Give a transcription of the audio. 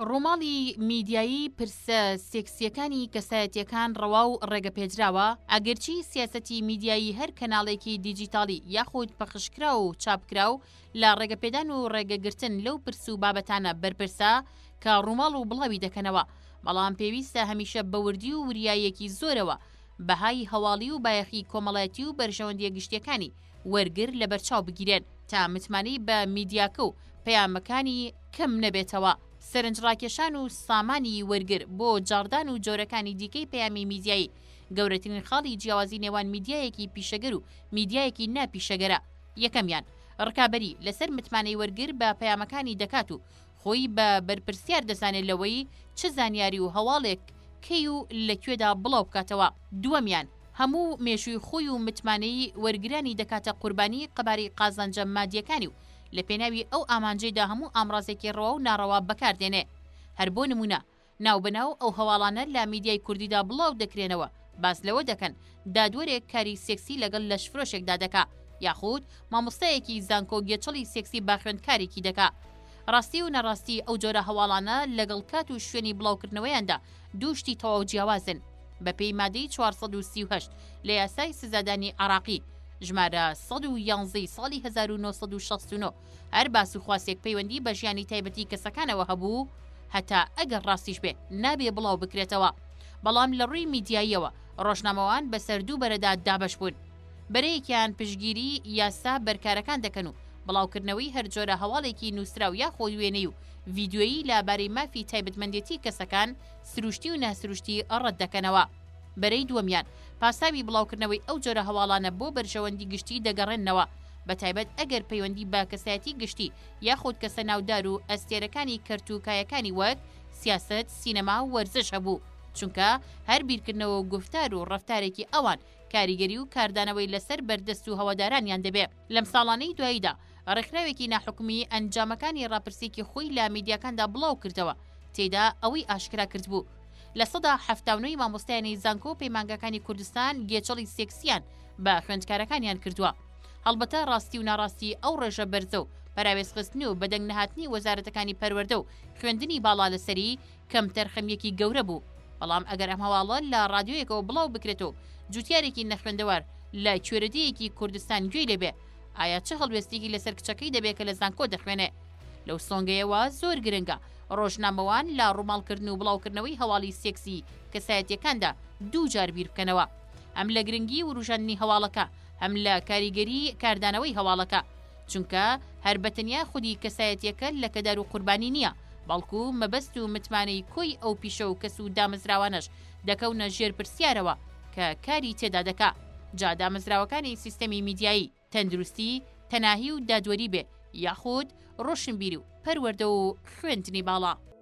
ڕووماڵی میدیایی پرسە سێکسیەکانی کەسایەتەکان ڕەوا و ڕێگەپێدراوە ئەگەرچی سیاستی میدیایی هەر کەناڵێکی دیجیتاڵی یاخود پەخشکرا و چاپکرا و لە ڕێگەپێدان و ڕێگەگرتن لەو پرس و بابەتانە بەرپرسە کە ڕووماڵ و بڵاوی دەکەنەوە، بەڵام پێویستە هەمیشە بە وردی و وریاییەکی زۆرەوە بەهای هەواڵی و بایەخی کۆمەڵایەتی و بەرژەوەندییە گشتییەکانی وەرگر لەبەرچاو بگیرێن، تا متمانەی بە میدیاکە و پەیامەکانی کەم نەبێتەوە. سەرنجڕاکێشان و سامانی وەرگر بۆ جاڕدان و جۆرەکانی دیکەی پەیامی میدیایی، گەورەترین خاڵی جیاوازی نێوان میدیایەکی پیشەگەر و میدیایەکی ناپیشەگەرە. یەکەمیان، ڕکابەری لەسەر متمانەی وەرگر بە پەیامەکانی دەکات و خۆی بە بەرپرسیار دەزانێت لەوەی چ زانیاری و هەواڵێک کەی و لە کوێدا بڵاو بکاتەوە، دووەمیان، هەموو مێژووی خۆی و متمانەی وەرگرانی دەکاتە قوربانی قەبارەی قازانجە مادیەکانی و لە پێناوی ئەو ئامانجەیدا هەموو ئامڕازێکی ڕەوا و ناڕەوا بەکاردێنێ هەر بۆ نموونە ناوبەناو ئەو هەواڵانە لە میدیای کوردیدا بڵاو دەکرێنەوە باس لەوە دەکەن دادوەرێک کاری سێکسی لەگەڵ لەشفرۆشێکدا دەکا یاخود مامۆستایەکی زانکۆ گێچەڵی سێکسی با خوێندکارێکی دەکا ڕاستی و نەڕاستی ئەو جۆرە هەواڵانە لەگەڵ کات و شوێنی بڵاوکردنەوەیاندا دوو شتی تەواو جیاوازن بەپێی مادەی 438 لە یاسای سزادانی عراقی ژمارە 111 ساڵی 1969 هەر باس و خواسێک پەیوەندی بە ژیانی تایبەتی کەسەکانەوە هەبوو، هەتا ئەگەر ڕاستیش بێ نابێ بڵاو بکرێتەوە. بەڵام لە ڕووی میدیاییەوە ڕۆژنامەوان بەسەر دوو بەرەدا دابەش بوون. بەرەیەکیان پشتگیری یاسا بەرکارەکان دەکەن و بڵاوکردنەوەی هەر جۆرە هەواڵێکی نووسراو یاخۆ وێنەی و ڤیدیۆیی لە بارەی مافی تایبەتمەندێتی کەسەکان سروشتی و ناسروشتی ڕەت دەکەنەوە. بەرەی دووەمیان، پاساوی بڵاوکردنەوەی ئەو جۆرە هەواڵانە بۆ بەرژەوەندی گشتی دەگەڕێننەوە، بەتایبەت ئەگەر پەیوەندی بە کەسایەتی گشتی یاخود کەسە ناودار و ئەستێرەکانی کەرت و کایەکانی وەک سیاسەت، سینەما و وەرزش هەبوو، چونکە هەر بیرکردنەوە و گوفتار و ڕەفتارێکی ئەوان کاریگەری و کاردانەوەی لەسەر بەردەست و هەوادارانیان دەبێ. لەم ساڵانەی دواییدا ڕێکخراوێکی ناحکومی ئەنجامەکانی ڕاپرسێکی خۆی لە میدیاکاندا بڵاو کردەوە تێدا ئەوەی ئاشکرا کردبوو لە سەدا حەفتا و نۆی مامۆستایانی زانکۆ و پەیمانگاکانی کوردستان گێچەڵی سێکسیان بە خوێندکارەکانیان کردووە هەڵبەتە ڕاستی و ناڕاستی ئەو ڕێژە بەرزە و پەراوێزخستنی و بەدەنگ نەهاتنی وەزارەتەکانی پەروەردە و خوێندنی باڵا لەسەری کەمتەرخەمییەکی گەورە بوو، بەڵام ئەگەر ئەم هەواڵە لە ڕادیۆیەکەوە بڵاو بکرێت و جووتیارێکی نەخوێندەوار لە کوێرەدێیەکی کوردستان گوێی لێ بێ، ئایا چ هەڵوێستێکی لەسەر کچەکەی دەبێ کە لە زانکۆ دەخوێنێ؟ لەو سۆنگەیەوە زۆر گرنگە ڕۆژنامەوان لە ڕووماڵکردن و بڵاوکردنەوەی هەواڵی سێکسی کەسایەتییەکاندا دوو جار بیر بکەنەوە، هەم لە گرنگی ورووژاندنی هەواڵەکە، هەم لە کاریگەریی کاردانەوەی هەواڵەکە. چونکە هەر بە تەنیا خودی کەسایەتیەکە لەکەدار و قوربانی نییە، بەڵکو مەبەست و متمانەی کۆی ئەو پیشە و کەس و دامەزراوانەش دەکەونە ژێر پرسیارەوە کە کاری تێدا دەکا، جا دامەزراوەکانی سیستەمی میدیایی، تەندروستی، تەناهی و دادوەری بێ، یاخود ڕۆشنبیری و پەروەردە و خوێندنی باڵا.